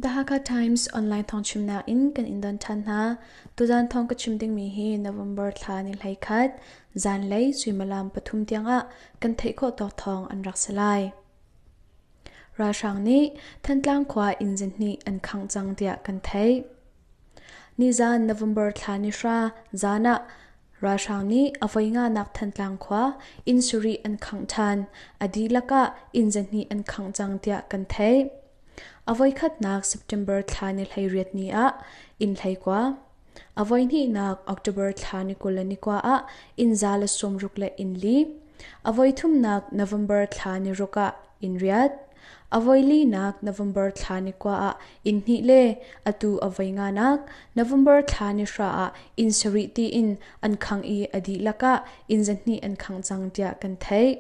The Hakha Times online thong chimnak in kan in don than hna. Tuzan thong ka chim dingmi hi November thla ni hlai khat zan lei suimalam pathum tiang ah kan theih khawh tok thong an rak salai. Ralhrang nih Thantlang khua inn zin hnih an khang cang tiah kan theih. Nizan November thla ni hra zan ah ralhrang nih a voi nganak Thantlang khua inn sarih an khangh ṭhan, a dihlak ah inn zahnih an khangh cang tiah kan theih. A voikhatnak September thla ni hleiriat ni ah inn hleikua, a voihnihnak October thla ni kul le ni kua ah inn za le sawmruk le inn li, A voithumnak November thla ni ruk ah inn riat. A voilinak November thla ni kua ah inn hnih le atu a voi nganak November thla ni hra ah inn sarih tiin an khang i a dihlak ah inn zahnih an khang cang tiah kan theih.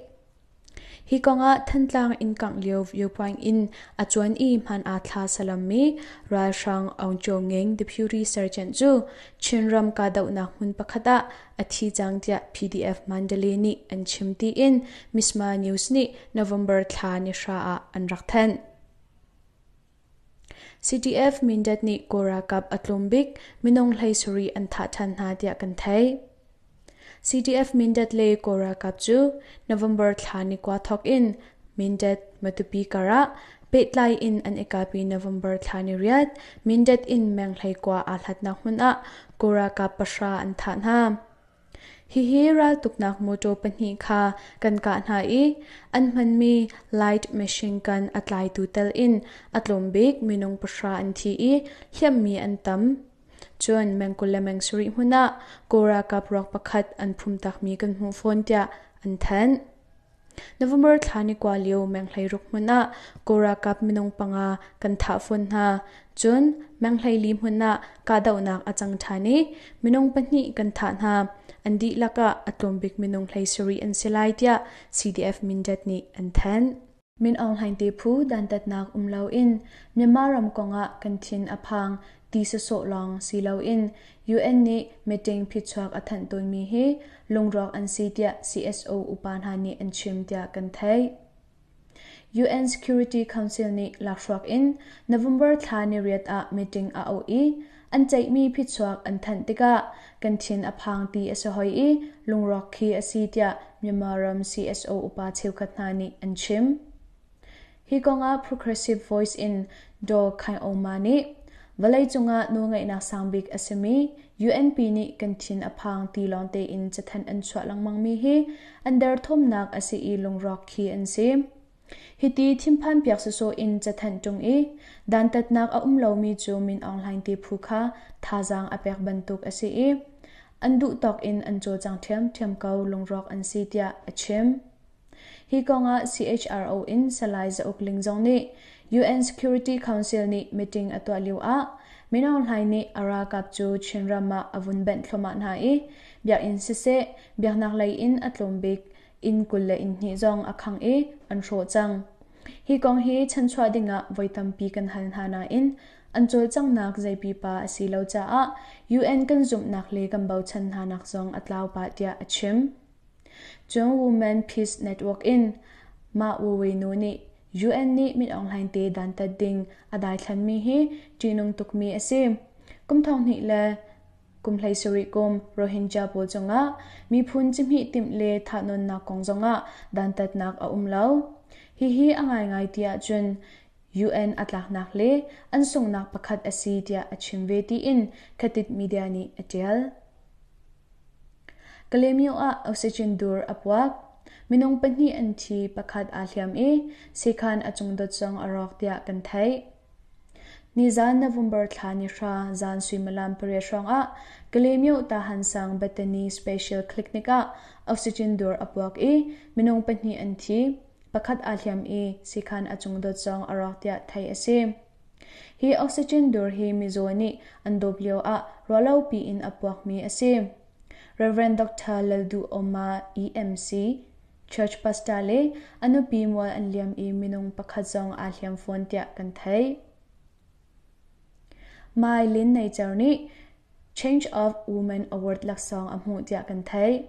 Hi kong ah Thantlang inn kangh lio viewpoint in a cuan i hman aa thla salammi ralhrang Aung Cho Ngeng Deputy Sergeant cu Chinram kahdohnak hmun pakhat ah a thi cang tiah PDF Mandalay nih an chim tiin Misma News nih November thla ni hra ah an rak thanh. CDF Mindat nih Kora kap a tlum bik minung hlei suri an thah than hna tiah kan thei. CDF Mindat le Kora kap cu November thla ni kwa thok in Mindat Matupi kara Pehtlai in an i kalpi November thla ni riat Mindat in menghlei kua aa hlatnak hmun ah Kurakaap pahra an thah hna. Hihi raltuknak motor pahnih kha kan kah hna i an hmanmi light machine gun a tlaitu tal in a tlawmbik minung pahra an thi i hliammi an tam. Cun mengkul le mengsarih hmun ah Kurakaap ruak pakhat an phum takmi kan hmuh fawn tiah an thanh. November thla ni kua lio menghlei ruk hmun ah Kawl ralkap minung panga kan thah fawn hna. Cun menghlei li hmun ah kahdohnak a cang ṭhan i minung pahnih kan thah hna. An dihlak ah a tlawm bik minung hlei sarih an si lai tiah CDF Mindat nih an thanh. Min Aung Hlaing te phu dantatnak um loin Myanmar ram kong ah kan thin a phang. ti sawsawh lawng si loin UN nih meeting phichuak a thanh tawnmi hi lungrawk an si tiah CSO upa hna nih an chim tiah kan theih. UN Security Council nih lakhruak in November thla niriat ah meeting a auh i an ceihmi phichuak an thanh tikah kan thin a phang ti a si hoi i lungrawk khi a si tiah Myanmar ram CSO upa cheukhat hna nih an chim. Hi kongah Progressive Voice in Daw Khai Oma nih vawleicung ah nawlngeihnak sangbik a simi UNP nih kan thin a phang ti lawng tein cathanh an chuah lengmangmi hi an derthawmnak a si i lungrawk khi an si. Hiti thimphan piak sawsawh in cathanh ṭung i dantatnak a um lomi cu Min Aung Hlaing te phu kha thazaang a pek bantuk a si i an duh tawk in an cawlcang ṭhiamṭhiam ko lungrawk an si tiah a chim. Hi kongah CHRO in Salai Za Uk Ling zong nih UN Security Council nih meeting a tuah lioah Mino hlai nih a ralkap cu Chinram ah a vun benh thluahmah hna i biakinn siseh biaknaklei in a tlawm bik inn kul le inn hnih zong a khang i an hrawh cang. Hi kong hi chanchuah dingah voi tampi kan hal hna nain an cawlcanghnak zei pipa a si lo caah UN kan zumhnak le kan bochan hnanak zong a tlau pah tiah a chim. Cun Women Peace Network in mah Wuwinu nih UN nih mit onghleng te dantat ding a daithlanmi hi ṭihnung tukmi a si. Kum thonghnih le kum hleisarih kum Rohingya pawl cungah miphun cihmih timh le thahnawnnak kong zongah dantatnak a um lo. Hihi a ngaingai ti ahcun UN a tlaknak le an sunghnak pakhat a si tiah a chim ve tiin Khatit media nih a ṭial. Kalemyo ah oxygen dur a puak. Minung pahnih an thi, pakhat aa hliam i sekhan a cungdot zong a rawk tiah kan theih. Nizan November thla ni hra zan suimilam pariat hrawngah Kalemyo Tahan sang Bethany Special Clinic ah oxygen dur a puak i minung pahnih an thi, pakhat aa hliam i sekhan a cungdot zong a rawk tiah theih a si. Hi oxygen dur hi mizaw nih an dawp lioah ruahlopi in a puakmi a si. Rev. Dr. Lalduhoma EMC, church pastor le a nupi mual an liam i minung pakhat zong aa hliam fawn tiah kan theih. Mai Lin Neicer nih Change of Woman Award laksawng a hmuh tiah kan theih.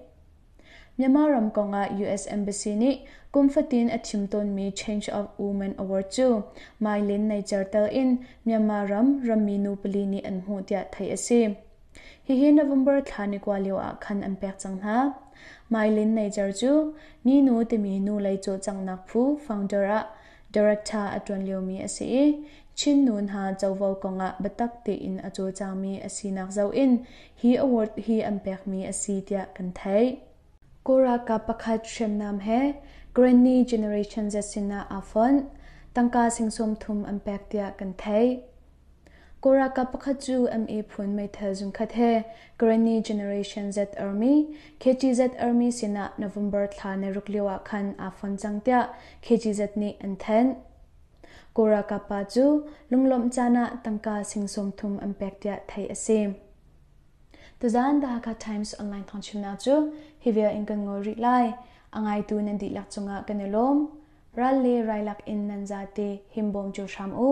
Myanmar ram kong ah US Embassy nih kum fatin a thim tawnmi Change of Women Award cu Mylin Naicer tel in Myanmar ram rammi nu pali nih an hmuh tiah theih a si. Hihi November thla ni kua lio ah khan an pek cang hna. Mylin Naicer cu ni nu timi nu lei cawlcanghnak phu founder ah director a ṭuan liomi a si i Chin nu hna covo kong ah biatak tein a cawlcangmi a sinak zoh in hi award hi an pekmi a si tiah kan theih. Kawl ralkap pakhat hriamnam he Granny Generation Z sinah aa fonh. Tangka singsawm thum an pek tiah kan theih. Kawl ralkap pakhat cu MA phun meithal zungkhat he Granny Generation Z Army KGZ Army sinah November thla na ruk lio ah khan aa fonh cang tiah KGZ nih an thanh. Kawlralkap pa cu lunglawmh caan ah tangka sing sawmthum an pek tiah theih a si. Tuzaan The Hakha Times online thawngchimnak cu hi vial in kan ngol rih lai. A ngaitu nan dihlak cungah kan i lawm. Ral le railak in nan zate himbawm cu hram u.